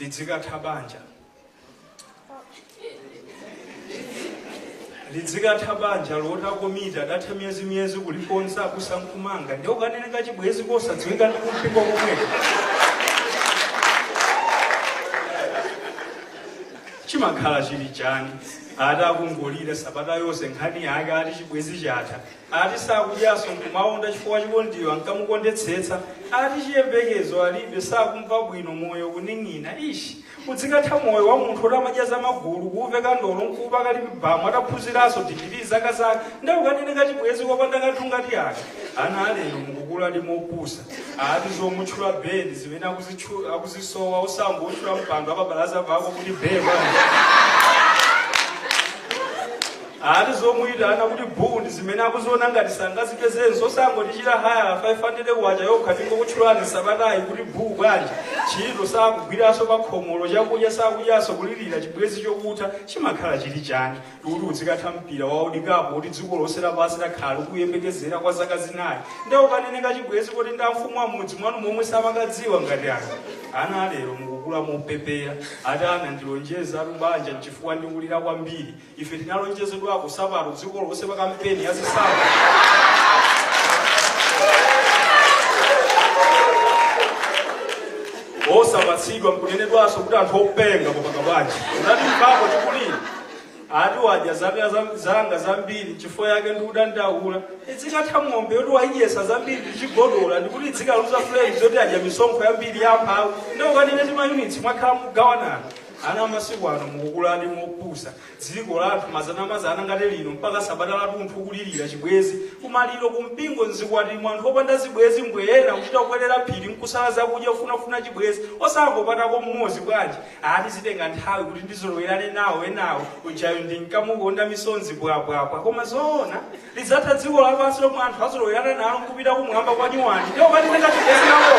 lidzikatha banja lidzikatha banja loti akomiti adatha miyezi miyezi kulikonza kusankumanga nde ukanene kachibwezi kosadziwika ndi kumpingo komweko chimakhala chili chani ati akungolira sabata yonse nkhani yake ati chibwezi chatha Ati sakudyaso nkumaonda chifukwa chikondiyo ankamukondetsetsa. Ati chiyembekezo alibe sakumva bwino moyo kuning'ina ish. Udzikatha moyo wa munthu oti amadya za magulu kuuveka ndolo nkuupaka lip balm ataphunziraso digiri zaka zaka nde ukanene kachibwezi kopanda kanthu ngati aka. Ana alero mukukuladi mopusa. Ati zomutchula bae ndi zimene akuzisowa osangotchula mpando apabalaza pako kuti bae bwa. Ati zomuitana kuti buu ndi zimene akuziona ngati sangazipezenso osangotichita hayala 500 kwacha yokha tingokutchulani sabatayi kuti buu bwanji ntchito sakugwiranso pa khomolo chakudya sakudyanso kulirira chibwezi chokutha chimakhala chili chani kuti udzikatha mpira wa World Cup oti dziko lonse lapansi lakhala likuyembekezera kwa zaka zinayi nde ukanene kachibwezi koti ndi amfumu a mmudzi mwanu momwe samakadziwa ngati aka ana alero mukukula mopepera ati anandilonjezatu banja nchifukwa ndikulira kwambiri ife tinalonjezedwako sapato dziko lonse pa kampeni ya zisankho osapatsidwa nkunenedwanso kuti anthu openga kupanga bwanji unati mbapo tikuli ati wadya zanga zambiri chifukwa yake ndikudandaula idzikatha ng'ombe yoti wayidyesa zambiri ndichigodola ndikuti idzikaluza flames yoti adya misonkho yambiri yamphawi nde ukanene timayunitsi mwakhala mugawanana Ana amasiku ano mukukuladi mopusa. Dziko la anthu mazanamazana ngati lino mpaka sabata latunthu kulilira chibwezi. Kumaliro, kumpingo, m'zikwati mwa anthu opanda zibwezi mbwee ena kuchita kukwelera phiri mkusala zakudya kufunafuna chibwezi. Osangopatako m'modzi bwanji? Ati zitenga nthawi kuti ndizolowerane nawo enawo. Ujayu ndinkamukonda misonzi bwabwabwa. Koma zoona? Lidzatha dziko lapansi lomwe anthu azolowerana nalo n'kupita kumwamba kwa nyuwani. Ndiye ukanene kachibwezi kako.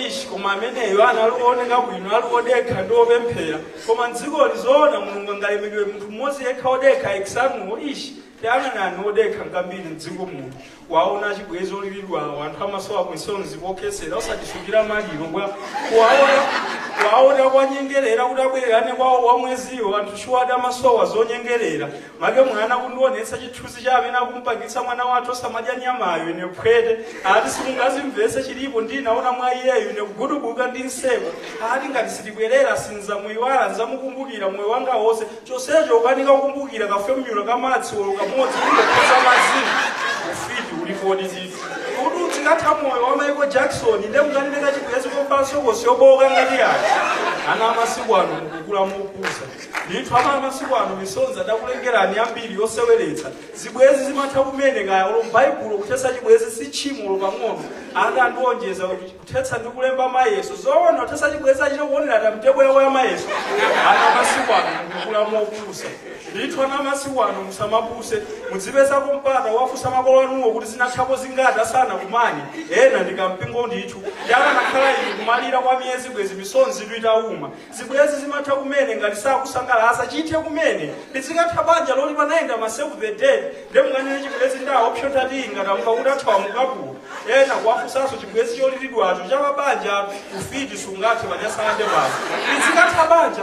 Ish, koma ameneyo anali ooneka bwino, ali odekha ndi opemphera. Koma m'dzikoli zoona Mulungu angalemedwe munthu mmodzi yekha odekha ex anuwo. Ish, Tayang'anani odekha ngambiri m'dziko muno, kuwaona achibwezi oliridwawo, anthu amasowa misonzi pokhesera, osatisungira maliro bwa, kuwaona kuwanyengerera kuti abwererane kwawo wa mweziwo, anthu shuwadi amasowa zonyengerera, make mwana kundionetsa chithunzi cha amene akumpangitsa mwana wathu osamadya nyamayo, ine phwete, ati simungazimvese chilipo ndinaona mwa iyeyo, ine kugudubuka ndi nseko, ati ngati sitibwerera sinzamuyiwala, nzamukumbukira moyo wanga wonse, chonsecho ukukanika kukumbukira kafomyula ka madzi olo kamodzi ungakhoza mazini ufiti ulipodi ziti kuti udzikatha moyo wa michael jackson nde mkanene kachibwezi kovala sokosi yobowoka ngati yake ana amasiku ano mukukula mopusa ndithu ana amasiku ano misonzi adakulengerani yambiri yoseweretsa zibwezi zimatha kumene kaya olo m'baibulo kuthetsa chibwezi si tchimo olo pang'ono ati andiwonjeza kuthetsa ndi kulemba mayeso zoona kuthetsa chibwezi achita kuonera timetable yawo ya mayeso ana amasiku ano mukukula mopusa ndithu ana amasiku ano musamapuse mudzipezako mpata wofunsa makolo anuwo kuti zinathapo zingati asanakumane ena ndikampingo ndithu ndi akanakhala iyi kumalira kwa miyezi bwezi misonzi itawuma zibwezi zimatha kumene ngati sakusangalatsa chithe kumene lidzikatha banja loti panayenda ma save the date nde mkanene chibwezi ndi aopsota tiyi ngati amva kuti athawa mukapulo ena kuwafunsanso chibwezi cholilidwacho cha pabanja ufiti sungathe panyasalande pano lidzikatha banja